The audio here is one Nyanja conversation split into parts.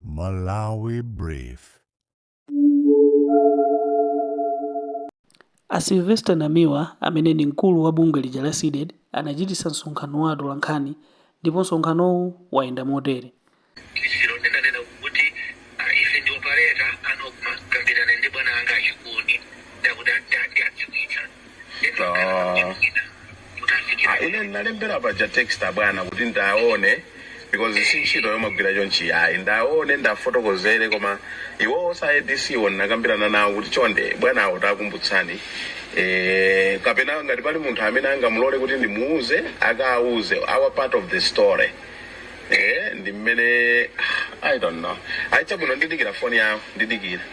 Malawi Brief. A Sylvester Namiwa amene ndi mkulu wa bungwe lija la CDED anachititsa msonkhano wa atolankhani ndipo msonkhanowu wayenda motere. Poyambirira ndinanena kuti ah, ife ndi opaleta anokma kambirana ndi bwana anga achikuni ndikuti ati ati adziwitsa Ah. Ah, ine ndinalembera paja text bwana kuti ndiwaone because si ntchito yomagwira chonchi ayi ndiwaone ndiwafotokozere koma iwowo a ADC wo ndinakambirana nawo kuti chonde bwana awo tawakumbutsani eh, kapena ngati pali munthu amene angandilole kuti ndimuuze akauze our part of the story eh, ndi mmene i don't know ayi chabwino ndidikira foni yawo ndidikira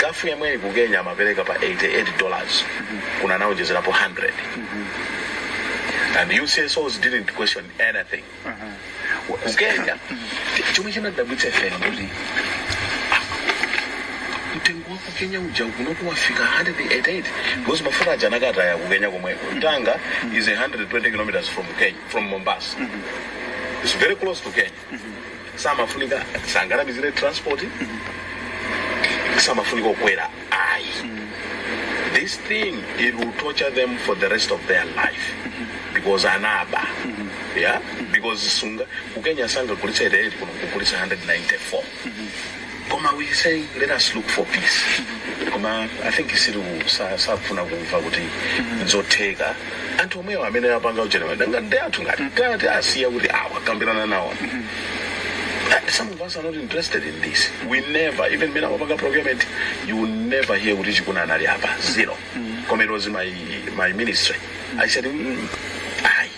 Gulf yemweyi ku kenya amapereka pa 88 dollars kuno anaonjezerapo 100 and you CSOs didn't question anything ku kenya ti- chomwe chinadabwitsa ife ndi kuti mtengo wa ku kenya uja kunoku wafika 188 because mafuta aja anakataidwa ku kenya komweko tanga is 120 kilometers from kenya from mombasa It's very close to Kenya. samafunika asanamizire transport samafunika kukwera ayi this thing it will torture them for the rest of their life because anaba yeah because sunga kukenya sangagulitse 88 kuno kugulitsa 194 koma we say let us look for peace koma i think isiru sa- sakufuna kumva kuti nzotheka anthu omwewo amene apanga ujenera danga ndi anthu ngati tati asiya kuti awa kambirana nawo And some of us are not interested in this. We never, even when our procurement, you will never hear kuti Chikuni anali pa zero. Koma it was in my ministry. I said, mm, ayi.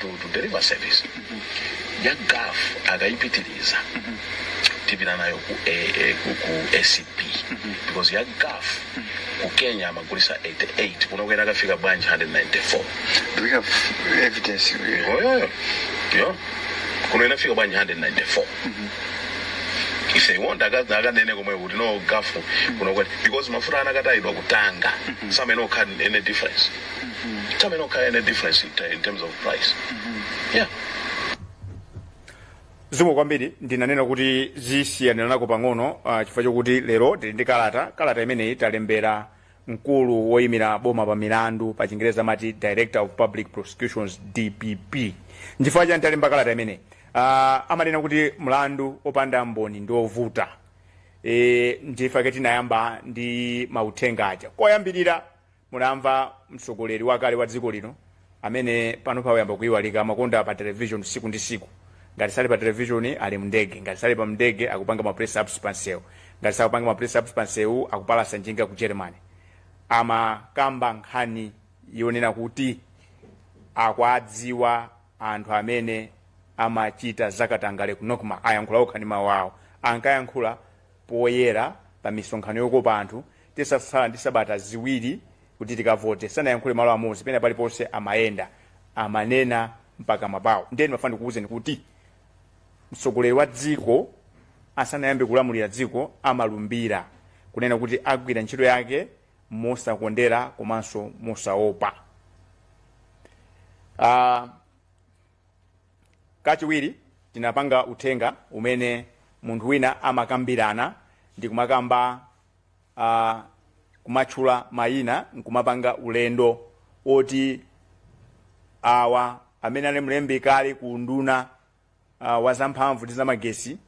to, to deliver service ya Gulf akayipitiriza tipita nayo ku, A- A- ku, ku ACB because ya Gulf ku kenya amagulitsa 88 kuno inakafika bwanji 194 Do we have evidence? oyoyo yo kuno inafika bwanji 194 if they want akazi akanene komwe kuti no Gulf kuno inakwera because mafuta anakatayidwa ku Tanga samayenera kukhala any difference Samayenera kukhala any difference in, in terms of price. Yeah. zikomo kwambiri ndinanena kuti zisiyaniranako pang'ono uh, chifukwa chokuti lero tili ndi kalata kalata imeneyi talembera mkulu woyimira boma pa milandu pa chingereza amati director of public prosecutions dpp nchifukwa chani talemba kalata imeneyi uh, amanena kuti mlandu opanda mboni ndi ovuta e, ndife tinayamba ndi mauthenga aja koyambirira Munamva mtsogoleri wakale wa dziko lino amene panopa wayamba kuiwalika amakonda kukhala pa television siku ndi siku ngati sali pa television ali m'ndege ngati sali pa mndege akupanga ma press ups pansewu ngati sakupanga ma press ups pansewu akupalasa njinga ku Germany amakamba nkhani yonena kuti akuwadziwa anthu amene amachita zakatangale ku Nocma anayankhula okha ndi mawu awo ankayankhula poyera pa misonkhano yokopa anthu titatsala ndi sabata ziwiri kuti tikavote sanayankhule malo amodzi pena paliponse amayenda amanena mpakamwa pawo ndiye ndimafuna ndikuwuzeni kuti mtsogoleri wa dziko asanayambe kulamulira dziko amalumbira kunena kuti agwira ntchito yake mosakondera komanso mosaopa uh, Kachiwiri, tinapanga uthenga umene munthu wina amakambirana ndi kumakamba kumatchula mayina n'kumapanga ulendo woti awa amene anali mlembi kale ku unduna a wa zamphamvu ndi zamagetsi,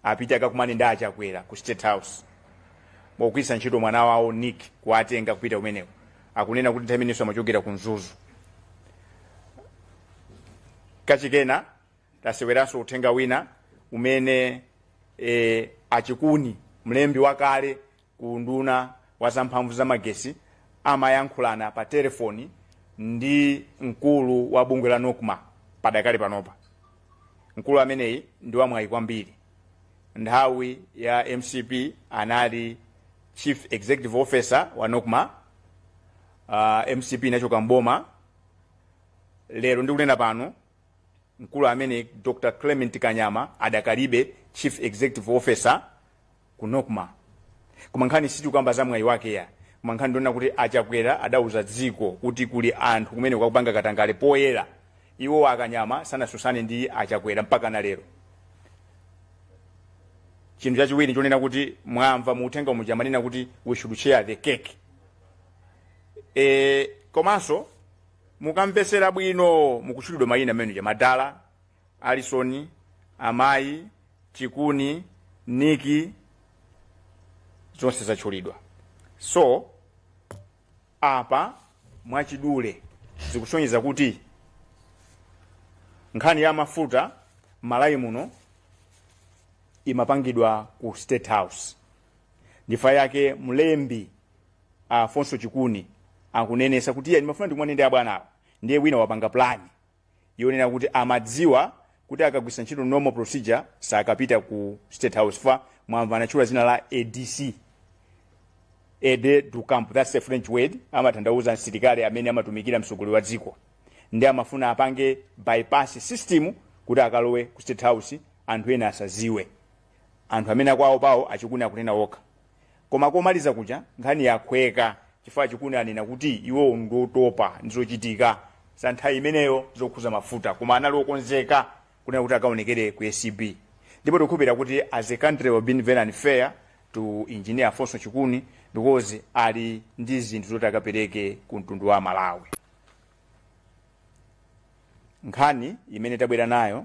apite akakumane ndi achakwera ku state house mogwiritsa ntchito mwana wawo nick kuwatenga kupita kumeneko akunena kuti nthawi imeneyo amachokera ku mzuzu kachikenanso taseweranso uthenga wina umene e, achikuni mlembi wakale ku unduna wa zamphamvu za magetsi amayankhulana pa telefoni ndi mkulu wa bungwe la nocma padakali panopa mkulu ameneyi ndi wamwayi kwambiri nthawi ya mcp anali chief executive officer wa nocma uh, mcp inachoka mboma lero ndikunena pano mkulu ameneyi dr clement kanyama adakalibe chief executive officer ku Nocma koma nkhani sitikukamba za mwayi wake ya koma nkhani ndi yonena kuti a Chakwera adauza dziko kuti kuli anthu kumeneko akupanga katangale poyera iwo akanyama sanatsutsane ndi a Chakwera mpaka na lero chinthu chachiwiri chonena kuti mwamva mu uthenga muja amanena kuti we should share the cake e, komanso mukamvetsera bwino mukutchulidwa mayina amene aja madala Alison, Amayi, Chikuni, Nikki, zonse zatchulidwa. So, apa mwachidule zikusonyeza kuti nkhani ya mafuta m'Malawi muno imapangidwa ku State House. Ndichifukwa chake mlembi Alfonso Chikuni akunenetsa kuti iye ndimafuna ndikumane ndi abwanawo ndiye wina wapanga plani yonena kuti amadziwa kuti akagwiritsa ntchito normal procedure sakapita ku state house fa mwamva anatchula zina la adc aide de camp that's a french word amatanthauza msilikali amene amatumikira mtsogoleri wa dziko ndi amafuna apange bypass system kuti akalowe ku state house anthu ena asaziwe Anthu amene akuwaopawo achikuni akunena okha. Koma komaliza kuja nkhani yakhweka chifukwa achikuni anena kuti iwowo ndiotopa ndi zochitika za nthawi imeneyo zokhuza mafuta koma anali okonzeka kunena kuti akaonekere ku acb. Ndipo tikukhulupirira kuti as a country we've been very unfair to Engineer Alfonso Chikuni because ali ndi zinthu zoti akapereke ku mtundu wa Malawi. Nkhani imene tabwera nayo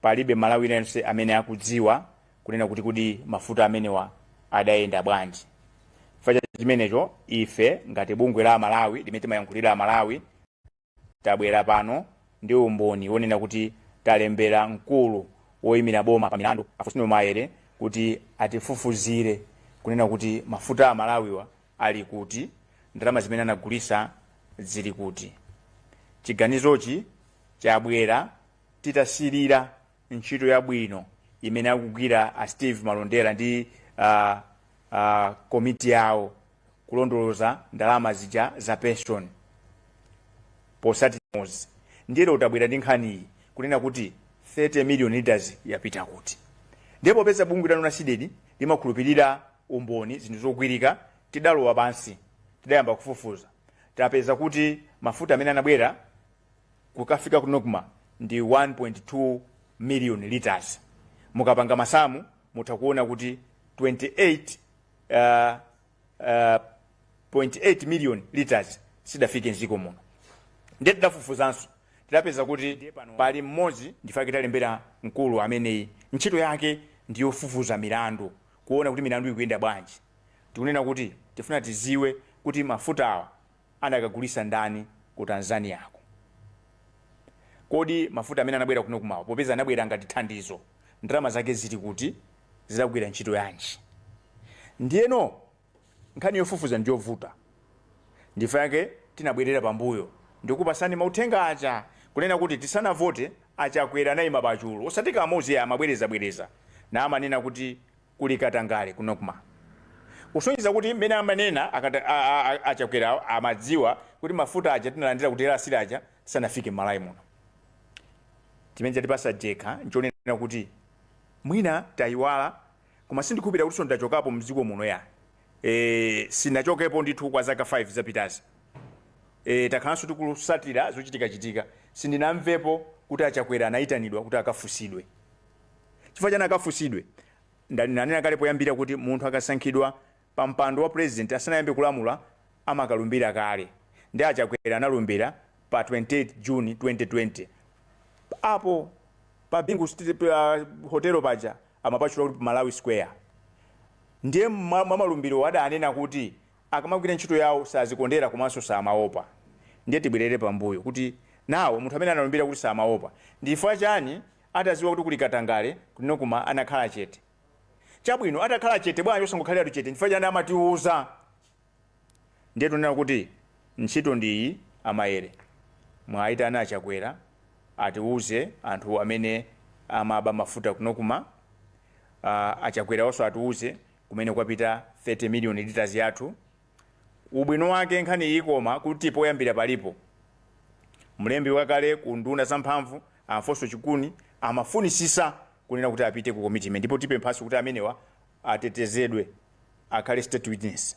palibe mmalawi aliyense amene akudziwa kunena kuti kodi mafuta amenewa adayenda bwanji chifukwa cha chimenecho ife ngati bungwe la amalawi limene timayankhulira amalawi tabwera pano ndi umboni wonena kuti talembera mkulu woyimira boma pa milandu a fostino maele kuti atifufuzire kunena kuti mafuta amalawiwa ali kuti ndalama zimene anagulisa zili kuti chiganizochi chabwera titasilira ntchito yabwino imene akugwira a steve malondera ndi uh, uh, komiti yawo kulondoloza ndalama zija za pension posatimozi ndiye lero tabwera ndi nkhaniyi kunena kuti 30 million liters yapita kuti ndiye popeza bungwe lanu la cdedi limakhulupirira umboni zinthu zogwirika tidalowa pansi tidayamba kufufuza tapeza kuti mafuta amene anabwera kukafika ku nocma ndi 1.2 million litres mukapanga masamu mutha kuona kuti 28 uh, uh, 0.8 million litres sidafike mziko muno ndiye tidafufuzanso tidapeza kuti pali mmodzi ndifake talembera mkulu ameneyi ntchito yake ndiyofufuza milandu kuona kuti milandu ikuyenda bwanji tikunena kuti tifuna tiziwe kuti mafutawa anakagulisa ndani ku Tanzaniako kodi mafuta amene anabwera ku nocmawa popeza anabwera ngati thandizo ndalama zake zili kuti zidagwira ntchito yanji ndiyeno nkhani yofufuza ndiyovuta ndifake tinabwerera pambuyo ndikupasani mauthenga aja kunena kuti tisanavote achakwera anayima pachulu osati kamozi amabwereza bwereza namanena kuti kuli katangale ku Nocma kusonyeza kuti mmene amanena akata, a, a, a Chakwerawo amadziwa kuti mafuta aja tinalandira ku DRC aja sanafike m'Malawi muno. Chimene chatipasa jenkha nchonena kuti mwina tayiwala koma sindikhulupirira kutinso ndachokapo mdziko muno ya e, sinachokepo ndithu kwa zaka 5 zapitazi e, takhalanso tikusatira zochitikachitika sindinamvepo kuti a Chakwera anayitanidwa kuti akafusidwe Chifukwa chani akafunsidwe? Ndanena kale poyambira kuti munthu akasankhidwa pa mpando wa president asanayambe kulamula amakalumbira kale nde a Chakwera analumbira pa 28 June 2020 apo pa Bingu hotel paja amapatchula kuti Malawi Square ndiye mmalumbirowo adanena kuti akamagwira ntchito yawo sazikondera komanso samaopa ndiye tibwelere pambuyo kuti now munthu amene analumbira kuti samaopa ndi chifukwa chani Ataziwa kuti kuli katangale ku Nocma anakhala chete. Chabwino atakhala chete bwanji osangokhaliratu chete nchifukwa chani amatiuza? Ndiye tunena kuti ntchito ndi iyi a Maele mwaitana a Chakwera atiuze anthu amene amaba mafuta ku Nocma, aah a Chakwerawoso atiuze kumene kwapita 30 million litres yathu. Ubwino wake nkhani ikoma kuti poyambira palipo. Mlembi wakale ku unduna za mphamvu a Alfonso Chikuni amafunisisa kunena kuti apite ku komiti imene ndipo tipemphanso kuti amenewa atetezedwe akhale state witness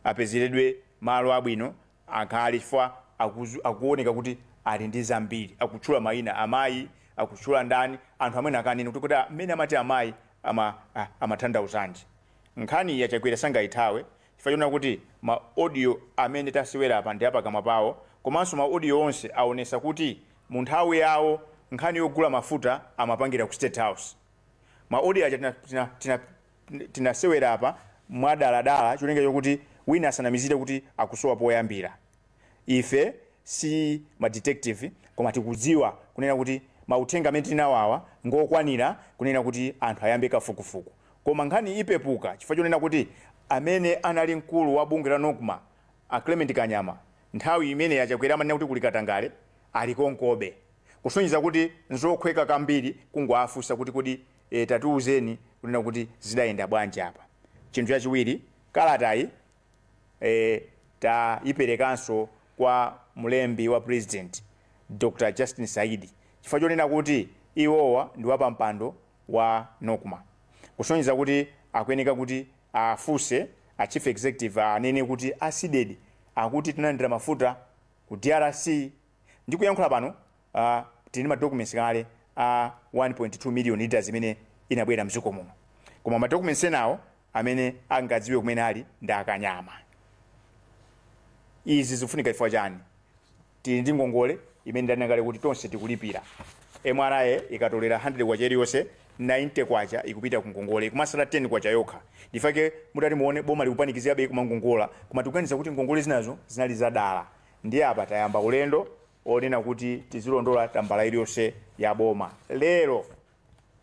apezeredwe malo abwino akhale chifukwa akuzu- akuoneka kuti ali ndi zambiri akutchula mayina amayi akutchula ndani anthu amene akanena kuti kuti amene amati amayi ama, a- amathandauzanji Nkhaniyi a Chakwera sangaithawe chifukwa choona kuti ma audio amene tasewera apa ndi a pakamwa pawo komanso ma audio onse aonesa kuti mu nthawi yawo nkhani yogula mafuta amapangira ku state house. Ma audio aja tina tina tina tinasewera apa mwa dala dala cholinga chokuti wina asanamizire kuti akusowa poyambira. Ife si ma detective koma tikudziwa kunena kuti mauthenga amene tili nawo awa ngokwanira kunena kuti anthu ayambe kafukufuku. Koma nkhani ipepuka chifukwa chonena kuti amene anali mkulu wa bungwe la Nocma, a Clement Kanyama, nthawi imene a Chakwera amanena kuti kuli katangale, ali konkobe. Kusonyeza kuti nzokhweka kambiri kungowafunsa kuti kodi ee tatiuzeni kunena kuti zidayenda bwanji apa. Chinthu chachiwiri, kalatayi ee tayiperekanso kwa mlembi wa Pulezidenti, Dr. Justin Saidi, chifukwa chonena kuti iwowa ndi wapampando wa Nocma kusonyeza kuti akuyeneka kuti afunse a Chief Executive anene kuti a Cdedi akuti tinalandira mafuta ku drc ndikuyankhula pano tili ndi ma documents kale a 1.2 million litres imene inabwera mdziko muno koma ma documents enawo amene angadziwe kumene ali ndi a Kanyama. Izi zikufunika chifukwa chani? Tili ndi ngongole imene ndanena kale kuti tonse tikulipira. MRA ikatolera K100 iliyonse, K90 ikupita ku ngongole, ikumatsala K10 yokha. Ndichifukwa chake mutati muone boma likupanikizikabe kumangongola, koma tikuganiza kuti ngongole zinazo zinali zadala. Ndiye apa tayamba ulendo onena kuti tizilondola tambala iliyonse ya boma lero.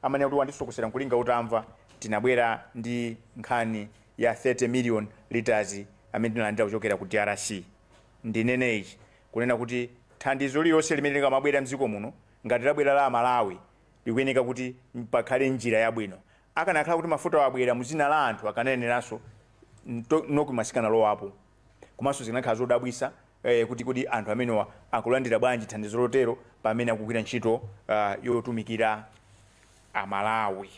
amanena kuti wandisokosera nkulinga utamva tinabwera ndi nkhani ya 30 million litres amene tinalandira kuchokera ku drc ndinene ichi kunena kuti thandizo lililonse limene likamabwera mdziko muno ngati labwera la amalawi likuyeneka kuti pakhale njira yabwino akanakhala kuti mafutawo abwera mudzina la anthu akanayeneranso Nocma sikanalowapo Komanso zikanakhala zodabwitsa eh, kuti kodi anthu amenewa akulandira bwanji thandizo lotero pamene akugwira ntchito uh, yotumikira Amalawi.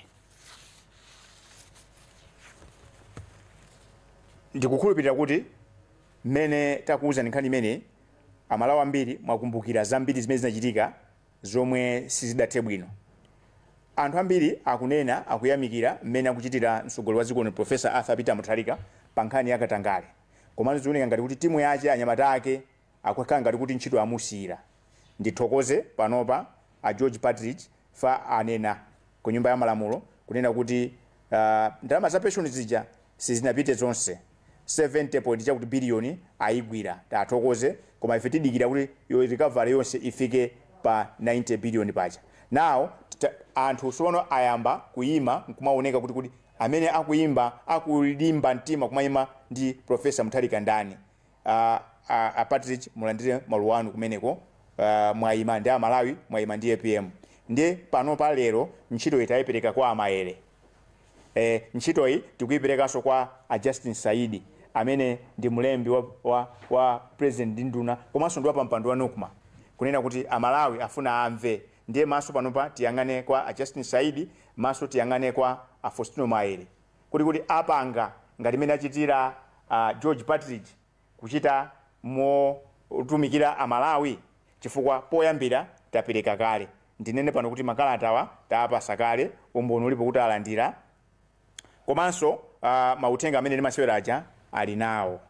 Ndikukhulupirira kuti mmene takuwuzani nkhani imeneyi Amalawi ambiri mwakumbukira zambiri zimene zinachitika zomwe sizidathe bwino. Anthu ambiri akunena akuyamikira mmene akuchitira mtsogoleri wa dziko lino Prof Arthur Peter Mutharika pa nkhani ya katangale komano zioneka ngati kuti timu yache anyamata ake akukhala ngati kuti ntchito amusiyira. Ndithokoze panopa a George Partridge chifukwa anena. ku nyumba ya malamulo kunena kuti uh, ndalama za pension zija sizinapite zonse 70 point chakuti biliyoni ayigwira tathokoze koma ife tidikira kuti yo recovery yonse ifike pa 90 biliyoni paja now tita- anthu tsopano ayamba kuyima nkumaoneka kuti kuti amene akuyimba akulimba mtima kumayima ndi profesa mutharika ndani a a a partridge mulandire maluwa anu kumeneko a mwaima ndi amalawi mwaima ndi apm ndiye panopa lero ntchitoyi taipereka kwa a maele e ntchitoyi tikuiperekanso kwa a justin saidi amene ndi mlembi wa, wa, wa president ndi nduna komanso ndi wapampando wa nocma kunena kuti amalawi afuna amve ndiye maso panopa tiyang'ane kwa a justin saidi maso tiyang'ane kwa a faustino maele kodi kuti apanga ngati mmene achitira a George Partridge kuchita motumikira a Malawi chifukwa poyambira tapereka kale. Ndinene pano kuti makalatawa taapasa kale, umboni ulipo kuti alandira komanso mauthenga amene ndimasewera aja ali nawo.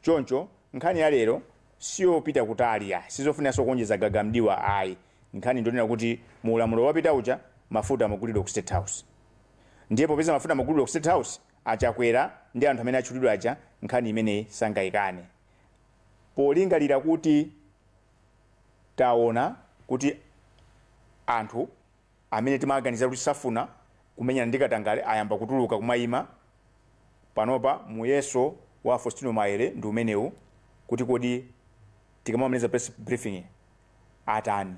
Choncho nkhani ya lero siyopita kutali ayi, sizofuniranso kuonjeza gaga m'diwa ayi. Nkhani ndi yonena kuti mu ulamuliro wapitawu uja mafuta amagulidwa ku state house ndiye popeza mafuta amagulidwa ku state house a Chakwera ndi anthu amene atchulidwa aja nkhani imeneyi sangaikane polingalira kuti taona kuti anthu amene timawaganizira kuti safuna kumenyana ndi katangale ayamba kutuluka kumaima panopa muyeso wa a Faustino Maere ndi umenewu kuti kodi Tikamamaliza press briefing atani?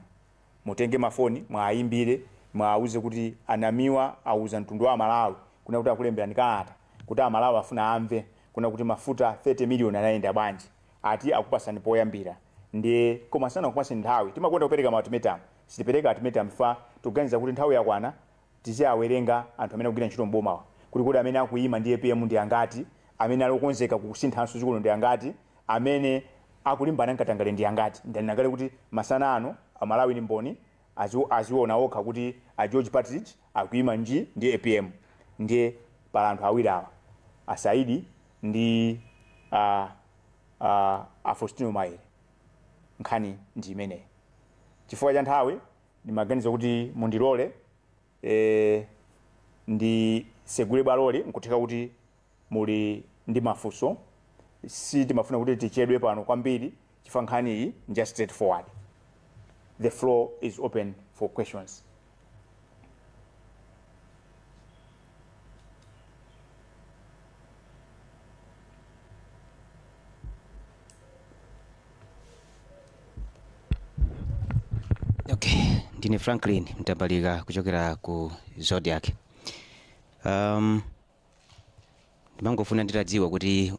Mutenge mafoni muwayimbire muwauze kuti a Namiwa auza mtundu wa aMalawi kunena kuti akulemberani kalata kuti aMalawi afuna amve kunena kuti mafuta 30 million anayenda bwanji ati akupatsani poyambira ndiye koma sanakupatseni nthawi timakonda kupereka ma ultimatum sitipereka ultimatum chifukwa tikuganiza kuti nthawi yakwana Tiziawerenga anthu amene akugwira ntchito m'bomawa kuti kodi amene akuima ndi apm ndi angati, amene ali okonzeka kusinthanso dziko lino ndi angati, amene akulimbana n'katangale ndi angati. Ndanena kale kuti masana ano a Malawi ndi mboni, aziona okha kuti a George Partridge akuima nji ndi apm. Ndiye pali anthu awiri awa, a Saidi ndi a a Faustino Maere. Nkhani ndi imeneyi. Chifukwa cha nthawi Ndimaganiza kuti mundilole e, nditsegule bwaloli. Nkutheka kuti muli ndi mafunso. Sitimafuna kuti tichedwe pano kwambiri chifukwa nkhani iyi nja straightforward. The floor is open for questions. Okay, ndine Franklin Mtambalika kuchokera ku Zodiak. Um, ndimangofuna nditadziwa kuti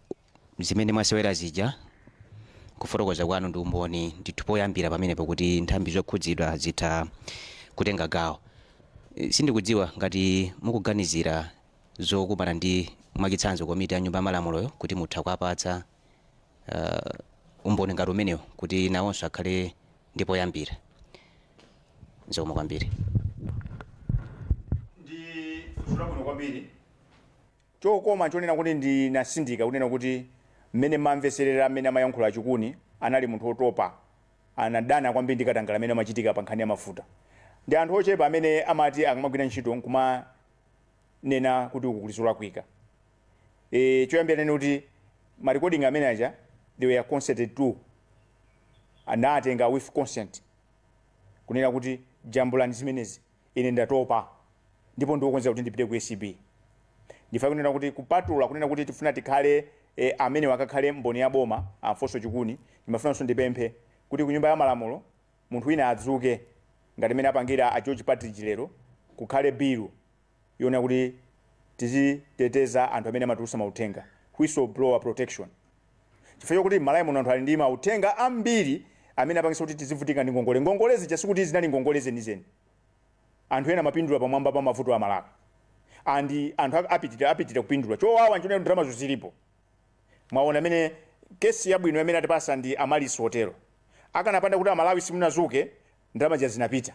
zimene mwasewera zija. Kufotokoza kwanu ndi umboni ndithu poyambira pamenepo kuti nthambi zokhudzidwa zitha kutenga gawo. Eh, Sindikudziwa ngati mukuganizira zokumana ndi mwachitsanzo komiti ya nyumba ya malamuloyo kuti mutha kuwapatsa eh, umboni ngati umenewo kuti nawonso akhale ndi poyambira. Zikomo kwambiri. ndi funso labwino kwambiri chokoma chonena kuti ndinatsindika kunena kuti mmene mumamvetserera mmene amayankhula a Chikuni anali munthu wotopa anadana kwambiri ndi katangale amene amachitika pa nkhani ya mafuta ndi anthu ochepa amene amati akamagwira ntchito nkumanena kuti uku kuli zolakwika e choyambira tinene kuti ma recording amenewa aja they were consented to anatenga with consent kunena kuti jambulani zimenezi Ine ndatopa ndipo ndiwokonzeka kuti ndipite ku acb. Ndifuna kunena kuti kupatula kunena kuti tifuna tikhale e, amenewa akakhale mboni ya boma a Mfoso Chikuni, ndimafunanso ndipemphe kuti ku nyumba ya malamulo munthu wina adzuke ngati mmene apangira a George Partridge lero kukhale bill yonena kuti tiziteteza anthu amene amatulusa mauthenga, whistle blower protection. Chifukwa chokuti m'Malawi muno anthu ali ndi mauthenga ambiri amene apangitsa kuti tizivutika ndi ngongole. Ngongole zija sikuti zinali ngongole zenizeni. Anthu ena amapindula pamwamba pa mavuto a Amalawi. And anthu a- apitirira apitirira kupindula. Chowawa nchonena kuti ndalamazo zilipo. Mwaona imene kesi yabwino imene atipasa ndi Amaryllis Hotel-o. Akanapanda kuti Amalawi simunazuke, ndalama zija zinapita.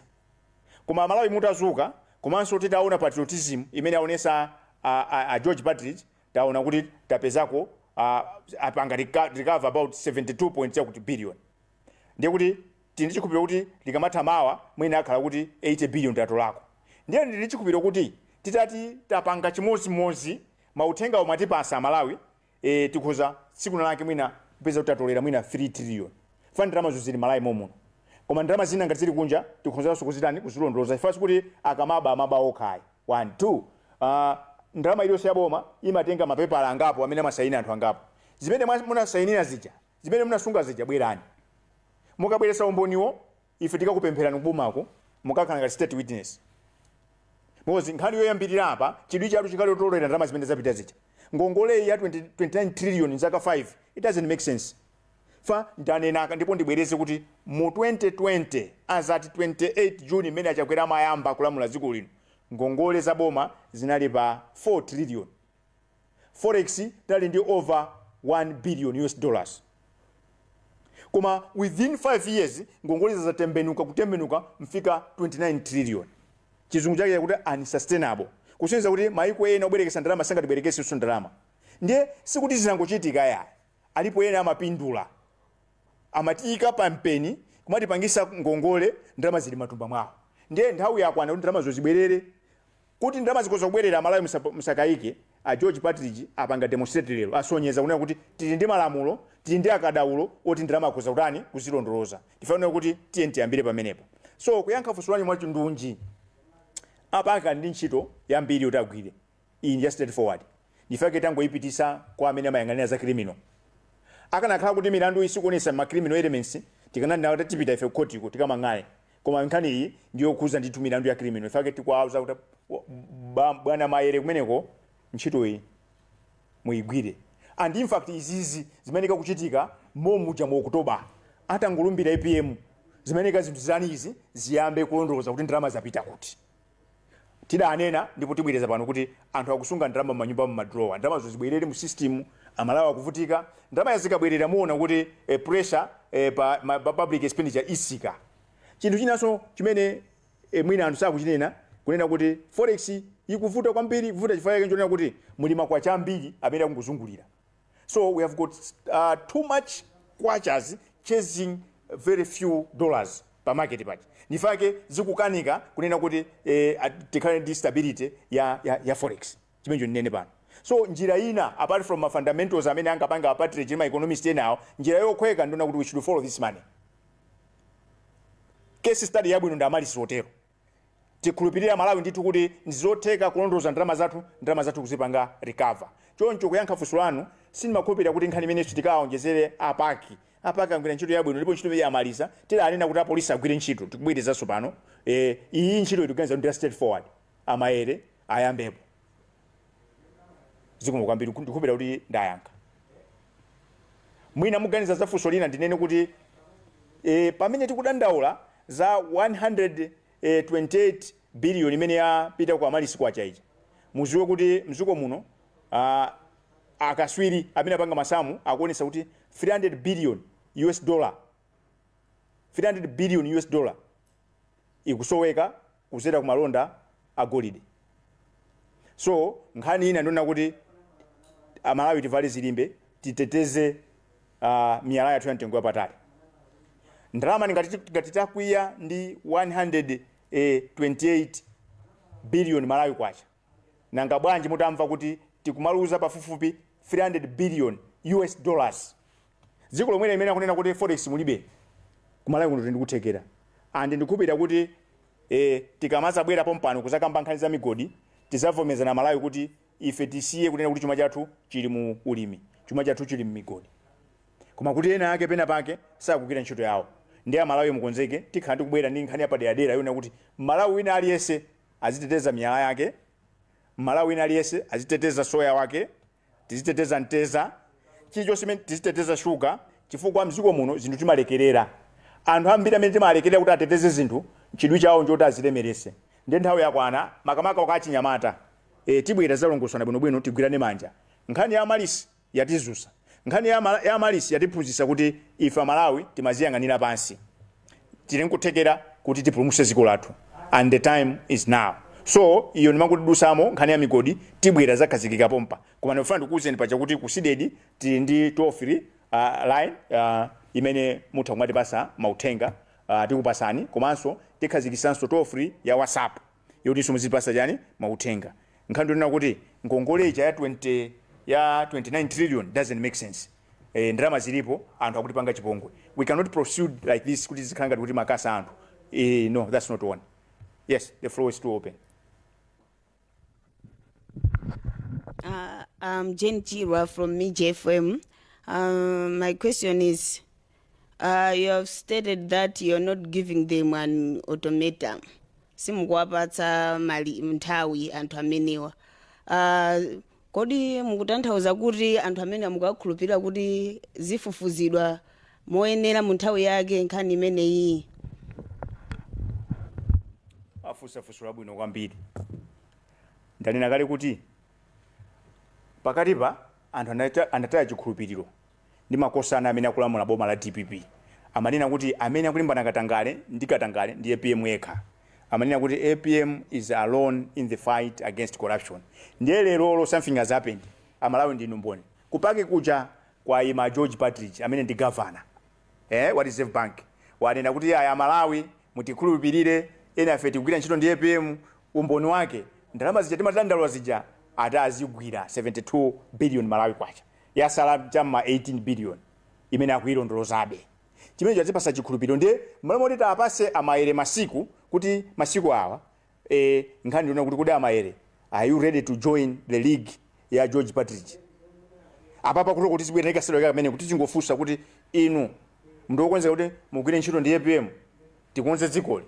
Koma Amalawi mutazuka komanso titaona patriotism imene aonesa a, a, a George Partridge Taona kuti tapezako a apanga reco recover about 72 point chakuti billion ndiye kuti tili ndi chikhulupiliro kuti likamatha mawa mwina akhala kuti 80 billion tatolako ndiye ndili ndi chikhulupiliro kuti titati tapanga chimodzimodzi mauthenga omwe atipasa amalawi ee tikhoza tsiku lina lake mwina kupeza kuti tatolera mwina 3 trillion chifukwa ndalamazo zili m'malawi momuno koma ndalama zina ngati zili kunja tikhonzanso kuzitani kuzilondoloza chifukwa sikuti akamaba amaba okha ayi. One two aah ndalama iliyonse yaboma imatenga mapepala angapo amene amasaina anthu angapo zimene mwa munasainila zija zimene munasunga zija bwerani mukabweretsa umboniwo ife tikakupempherani kubomako mukakhala ngati state witness because nkhani yoyambirira apa chidwi chatu chikhale chotolera ndalama zimene zapita zija ngongoleyi ya 20 29 trillion zaka 5 it doesn't make sense Chifukwa ndanena kale ndipo ndibwereze kuti mu 2020 as at 28 June mmene a Chakwera amayamba kulamula dziko lino ngongole za boma zinali pa 4 trillion forex tinali ndi over 1 billion US dollars koma within 5 years ngongole za zatembenuka kutembenuka mfika 29 trillion chizungu chake chakuti unsustainable kusonyeza kuti maiko ena obwerekesa ndalama sangatibwerekese isu ndalama ndiye sikuti zinangochitika ayi Alipo ena amapindula. Amatiika pa mpeni, kumatipangisa ngongole, ndalama zili mmatumba mwawo. Ndiye nthawi yakwana kuti ndalamazo zibwerere. Kuti ndalama zikhoza kubwerera, Amalawi musakaike, a George Partridge apanga demonstrate lero, asonyeza kunena kuti tili ndi malamulo, tili ndi akadaulo oti ndalama akhoza kutani, kuzilondoloza. Ndi ife tinena kuti tiyeni tiyambire pamenepo. So kuyankha funso lanu mwachindunji, a PAC ali ndi ntchito yambiri yoti agwire. Iyi ndi ya straight forward ndifake tangoipitisa kwa amene amayang'anila za criminal. Akanakhala kuti milanduyi sikuonesa ma criminal elements tikananena kuti tipita ife ku court ko tikamang'ale koma nkhani iyi ndi yokhuza ndithu milandu ya criminal nifake tikuwauza kuti bwana Maele kumeneko ntchitoyi muigwire and infact izizi zimayeneka kuchitika mommuja mu October atangolumbira APM zimayeneka zinthu zitani izi ziyambe kulondoloza kuti ndalama zapita kuti. Tidanena ndipo tibwereza pano kuti anthu akusunga ndalama m'manyumba mu ma drawer, ndalamazo zibwerere mu system, Amalawi akuvutika, ndalamazi zikabwerera muona kuti eh, pressure eh, pa ma pa public expenditure isika. Chinthu chinanso chimene eh, mwina anthu sakuchinena kunena kuti forex ikuvuta kwambiri, ikuvuta chifukwa chake nchonena kuti muli makwacha ambiri amene akungozungulira. so we have got uh, too much kwachas chasing very few dollars pa market paja nifake zikukanika kunena kuti eh, at- tikhale ndi stability ya, ya, ya forex chimenecho ndinene pano so njira ina apart from ma fundamentals amene angapanga a Partridge ndi ma economist enawo njira yokhweka ndionena kuti we should follow this money case study yabwino ndi Amaryllis Hotel Tikhulupilire amalawi ndithu kuti ndizotheka kulondoloza ndalama zathu, ndalama zathu kuzipanga recover. Choncho kuyankha funso lanu, sindimakhulupilira kuti nkhani imeneyi tikaonjezere a PAC. A PAC agwira ntchito yabwino ndipo ntchito imeneyi amaliza. Tidanena kuti a police agwire ntchito, tikubwerezanso pano. Eeh, iyiyi ntchitoyi tikuganiza kuti ndi ya straight forward. A Maele ayambepo. zikomo kwambiri ku- ndikukhulupirira kuti ndayankha mwina muganiza za funso lina ndinene kuti e, pamene tikudandaula za 128 billion imene yapita ku Amaryllis kwacha ija muziwe kuti mdziko muno ah, akaswiri amene apanga masamu akuonesa kuti 300 billion us dollar 300 billion us dollar ikusoweka kudzera ku malonda a golide. So nkhani ina ndionena kuti Amalawi tivale zilimbe, titeteze uh, miyala yathu ya mtengo wapatali. Ndalama ngati ngati takwiya ndi 128 billion Malawi kwacha. Nanga bwanji mutamva kuti tikumaluza pafupifupi 300 billion US dollars? Dziko lomweli limene akunena kuti forex mulibe, ku Malawi kuno tili ndi kuthekera and ndikukhulupirira kuti eh tikamadzabwera pompano kudzakamba nkhani za migodi tidzavomerezana Amalawi kuti ife tisiye kunena kuti chuma chathu chili mu ulimi, chuma chathu chili m'migodi. Koma kuti ena ake pena pake sakugwira ntchito yawo. Ndiye Amalawi mukonzeke, tikhala tikubwera ndi nkhani yapaderadera yonena kuti Mmalawi wina aliyense, aziteteza miyala yake, mmalawi wina aliyese aziteteza soya wake, tiziteteza mteza, chilichose chimene tiziteteza sugar chifukwa mziko muno zinthu timalekerera, anthu ambiri amene timawalekerera kuti ateteze zinthu chidwi chawo nchoti azilemerese nde nthawi yakwana makamaka kwa achinyamata ee tibwera tizalongosola bwino bwino tigwirane manja nkhani ya Malis. yatizusa. Nkhani ya ma ya Malis yatiphuzisa kuti ife amalawi timaziyang'anira pansi. Tilinkuthekera kuti tipulumuse ziko lathu and the time is now. So iyo ndimangoti ndidusamo nkhani ya migodi tibwera zakhazikika pompa. Koma ndifuna ndikuuzeni poja kuti ku Cdedi tili ndi toll free uh, line uh, imene mutha kumatipasa mauthenga uh, tikupasani komanso tikhazikisanso toll free ya WhatsApp. yotinso muzitipatsa chani mauthenga nkhani ndi yonena kuti ngongole ija ya 20 ya 29 trillion doesn't make sense eh, ndalama zilipo anthu akutipanga chipongwe we cannot proceed like this kuti zikhala ngati kuti makasa anthu eh, no that's not one yes the floor is still open Uh, I'm Jane Chirwa from MIJ FM. Um, my question is You have stated that you're not giving them an ultimatum. Simukuwapatsa mali nthawi anthu amenewa. Uh, kodi mukutanthauza kuti anthu amenewa mukuwakhulupirira kuti zifufuzidwa moyenera mu nthawi yake nkhani imeneyi? afunsa funso labwino kwambiri ndanena kale kuti pakatipa anthu anata- anataya chikhulupiriro ndi makosana amene akulamula boma la dpp amanena kuti amene akulimbana katangale ndi katangale ndi apm yekha amanena kuti apm is alone in the fight against corruption ndiye leroli something has happened amalawi ndinu mboni ku PAC kuja kwaima george partridge amene ndi governor eh, wa reserve bank wanena kuti aya malawi mutikhulupirire ena afe tikugwira ntchito ndi apm umboni wake ndalama zija timatandalwa zija ati azigwira 72 billion malawi kwacha yasala cha mma 18 billion imene akuyilondolozabe chimenecho chatipasa chikhulupiliro ndiye mmalo moti tiwapase a Maere masiku kuti masiku awa eh, nkhani ndi yonena kuti kodi a Maere are you ready to join the league ya george partridge apapa kuti kuti zibwera ikasidwa kamene kuti tingofunsa kuti inu ndinu wokonzeka kuti mugwire ntchito ndi apm tikonze dzikoli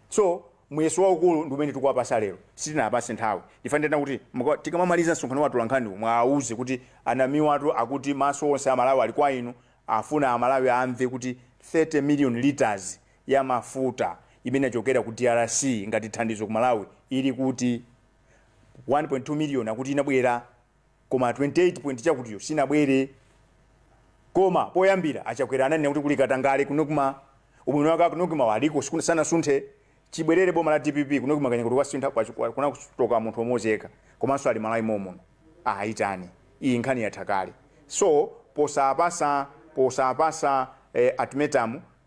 so muyeso waukulu ndi umene tikuwapasa lero sitinawapase nthawi ndifuna ndinene kuti muka- tikamamaliza msonkhano wa atolankhaniwu muwauze kuti anamiwatu akuti maso onse a malawi ali kwa inu afuna amalawi amve kuti 30 million litres ya mafuta imene inachokera ku drc ngati thandizo ku malawi ili kuti 1.2 million akuti inabwera Koma 28 point chakutiyi sinabwere. Koma poyambira achakwera ananena kuti kuli katangale ku Nocma. Ubwino wake aku Nocma wa aliko sanasunthe. Chibwerere boma la dpp ku Nocma kaya kuti kwasintha kwa, kwa kunatuluka munthu omodzi yekha. Komanso ali Malawi momuno. Awaitane. Iyi nkhani yatha kale. So posapasa posapasa eh, ultimatum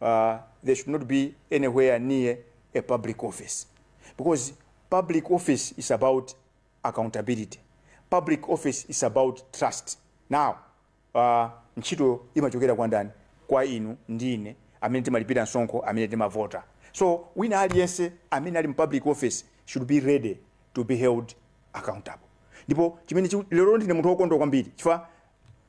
uh, there should not be anywhere near a public office because public office is about accountability public office is about trust now uh, ntchito imachokera kwa ndani kwa inu ndi ine amene timalipira msonkho amene timavota so wina aliyense amene ali mu public office should be ready to be held accountable ndipo chimene chiku- lero ndine munthu wokondwa kwambiri chifukwa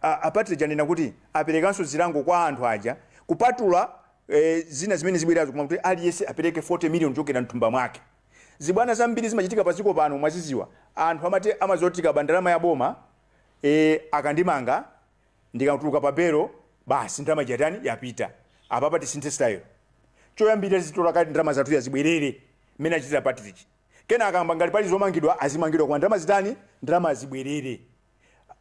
A a Partridge anena kuti aperekanso zilango kwa anthu aja kupatula eh, zina zimene zibwerazo koma kuti aliyense apereke 40 million kuchokera mthumba mwake. Zibwana zambiri zimachitika pa dziko pano mwaziziwa. Anthu amati amadziwa kuti ndikaba ndalama ya boma eh, akandimanga ndikatuluka pa belo basi ndalama ija yatani yapita. Apapa tisinthe style. Choyambirira zitolere kaye ndalama zathu zibwerere mmene achitira Partridge. Kenaka ngati pali zomangidwa azimangidwa koma ndalama zitani ndalama zibwerere.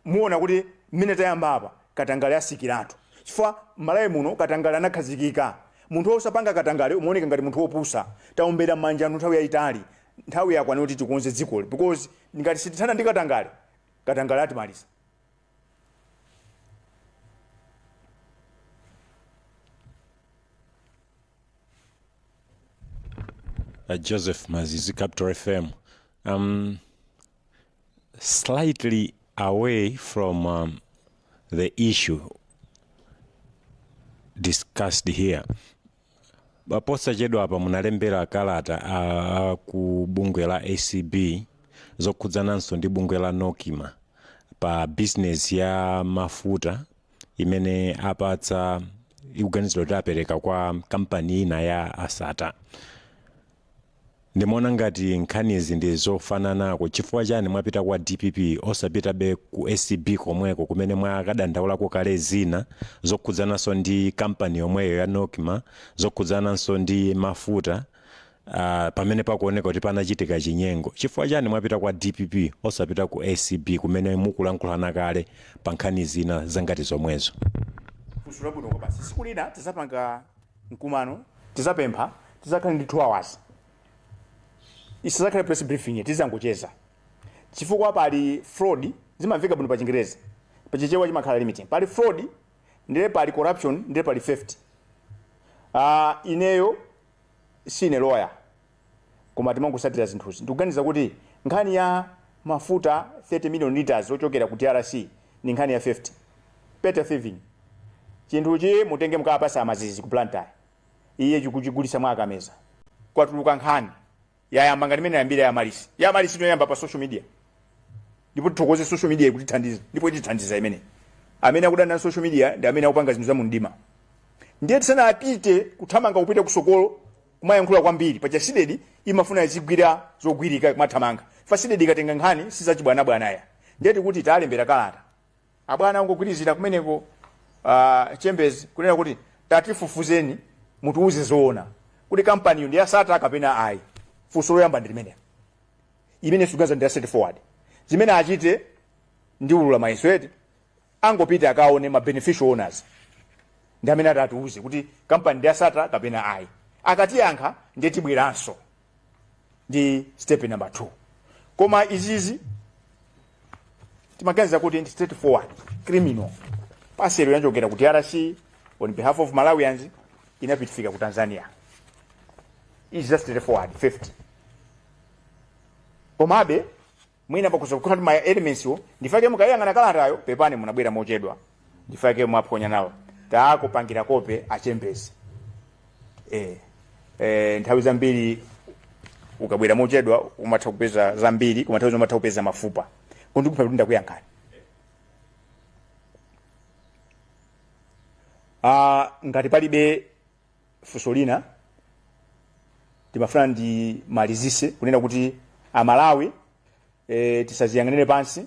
muona kuti mmene tayamba apa katangale atsikiratu chifukwa malawi muno katangale anakhazikika munthu osapanga katangale umaoneka ngati munthu opusa taombera m'manja anthu nthawi yayitali nthawi yakwana kuti tikonze dzikoli because ngati sitithana ndi katangale katangale atimaliza uh, Joseph Mazizi, Capital FM. Um, slightly away from um, the issue discussed here Ba- posachedwapa munalembera kalata a, a ku bungwe la acb zokhudzananso ndi bungwe la Nocma pa business ya mafuta imene apatsa ikuganizidwa kuti apereka kwa kampani ina ya asata Ndimaona ngati nkhanizi ndi zofananako chifukwa chani mwapita kwa dpp osapitabe ku acb komweko kumene mwakadandaulako kale zina zokhudzananso ndi kampani yomweyo ya Nocma zokhudzananso ndi mafuta a pamene pakuoneka kuti panachitika chinyengo chifukwa chani mwapita kwa dpp osapita ku acb kumene mukulankhulana kale pa nkhani zina zangati zomwezo. Funso labwino kwabasi tsiku lina tizapanga mkumano tizapempha tizakhale ndi 2 hours isazakhale press briefing tizangocheza chifukwa pali fraud zimamveka bwino pa chingerezi pa chichewa chimakhala limiting pali fraud ndiye pali corruption ndiye pali theft ah ineyo sine lawyer koma timangotsatira zinthuzi. Ndikuganiza kuti nkhani ya mafuta 30 million litres ochokera ku drc ndi nkhani ya theft. Petty thieving. Chinthuchi mutenge mukawapatse a Mazizi ku Blantyre. Iye chikuchigulitsa mwa Kameza. Kwatuluka nkhani. Yayamba ngati mmene yayambira ya Amaryllis. Ya Amaryllis inayamba pa social media. Ndipo tithokoze social media ikutithandiza ndipo itithandiza imeneyi. Amene akudana na social media ndi amene akupanga zinthu za mumdima. Ndiye tisanapite kuthamanga kupita kusogolo kumayankhula kwambiri paja CDEDI imafuna izigwira zogwirika kumathamanga fa CDEDI ikatenga nkhani sizachibwanabwana ya ndiye tikuti talembera kalata abwana angogwirizira kumeneko uh, chambers kunena kuti tatifufuzeni mutiuze zoona kuti kampaniyo ndi ya Sattar kapena ayi funso loyamba ndi limenelo imene tikuganiza ndi ya straightforward zimene achite ndi ulula mayeso eti angopite akaone ma beneficial owners ndi amene ati atiuze kuti kampani ndi ya Sattar kapena ayi akatiyankha ndiye tibweranso ndi step number 2 koma izizi timaganiza kuti ndi straightforward criminal parcel inachokera ku drc on behalf of malawians inapitifika ku tanzania izi za straightforward theft komabe mwina pakhoza kukhala kuti ma elements wo ndi chifukwa chake mukayang'ana kalatayo pepani munabwera mochedwa ndi chifukwa chake mwaphonya nawo takupangira kope achembezi eh eh nthawi zambiri ukabwera mochedwa umatha kupeza zambiri koma nthawi zina umatha kupeza mafupa ndikukhulupira kuti ndakuyankhani ah ngati palibe funso lina ndimafuna ndimalizise kunena kuti amalawi e, tisaziyang'anire pansi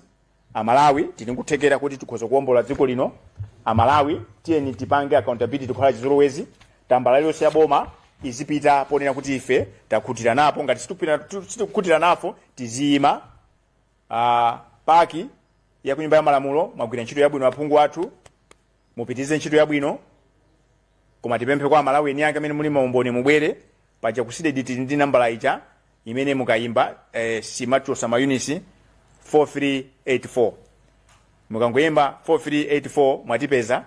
amalawi tili nkuthekera kuti tikhoza kuwombola dziko lino amalawi tiyeni tipange accountability kukhala chizolowezi tambala yonse ya boma izipita ponena kuti ife takhutira napo ngati sitikupita- tu- sitikukhutira napo tiziyima Ah, PAC ya kunyumba ya malamulo mwagwira ntchito yabwino aphungu athu mupitirize ntchito yabwino koma tipemphe kwa amalawi eni ake amene muli maumboni mubwere paja ku CDEDI tili ndi nambala ija imene mukayimba eh, simachosa mayunitsi 4384 mukangoyimba 4384 mwatipeza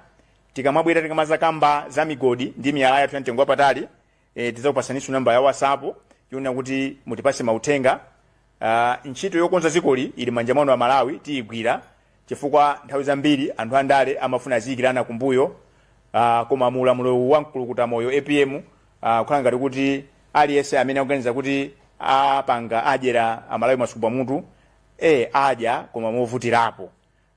tikamabwera tikamazakamba za migodi ndi miyala yathu ya mtengo wapatali e, tidzakupasaninso namba ya whatsapp yonena kuti mutipase mauthenga uh, ntchito yokonza dzikoli ili manja mwanu a malawi tiyigwira chifukwa nthawi zambiri anthu andale amafuna aziyikirana kumbuyo uh, koma mu ulamuliro wa mkulukuta moyo apm uh, kukhala ngati kuti aliyense amene akuganiza kuti apanga adyera amalawi masuku pamutu e adya koma movutirapo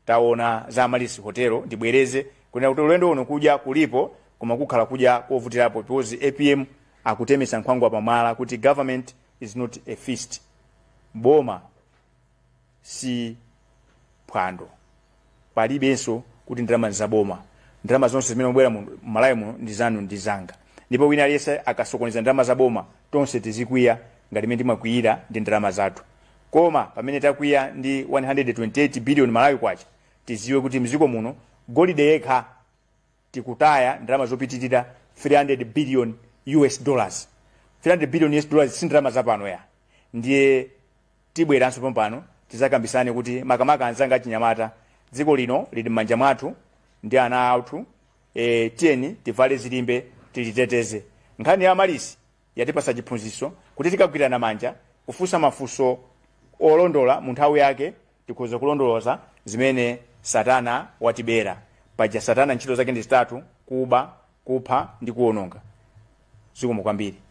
taona za Amaryllis Hotel ndibwereze kunena kuti ulendo uno kudya kulipo koma kukhala kudya kovutirapo because apm akutemesa nkhwangwa pamwala kuti government is not a feast boma si phwando palibenso kuti ndalama za boma ndalama zonse zimene zikubwera mu malawi muno ndi zanu ndi zanga ndipo wina aliyense akasokoneza ndalama za boma tonse tizikwiya ngati mmene timakwiyira ndi ndalama zathu Koma pamene takwiya ndi 128 billion Malawi kwacha tiziwe kuti mziko muno golide yekha tikutaya ndalama zopitilira 300 billion US dollars 300 billion US dollars si ndalama zapano ayi ndiye tibweranso pompano tizakambisane kuti makamaka anzanga achinyamata dziko lino lili mmanja mwathu ndi ana athu, tiyeni tivale zilimbe tiliteteze nkhani ya Amaryllis Yatipatsa chiphunzitso kuti tikagwirana manja, kufunsa mafunso olondola mu nthawi yake, tikhoza kulondoloza zimene Satana watibera. Paja Satana ntchito zake ndi zitatu, kuba, kupha ndi kuononga. Zikomo kwambiri.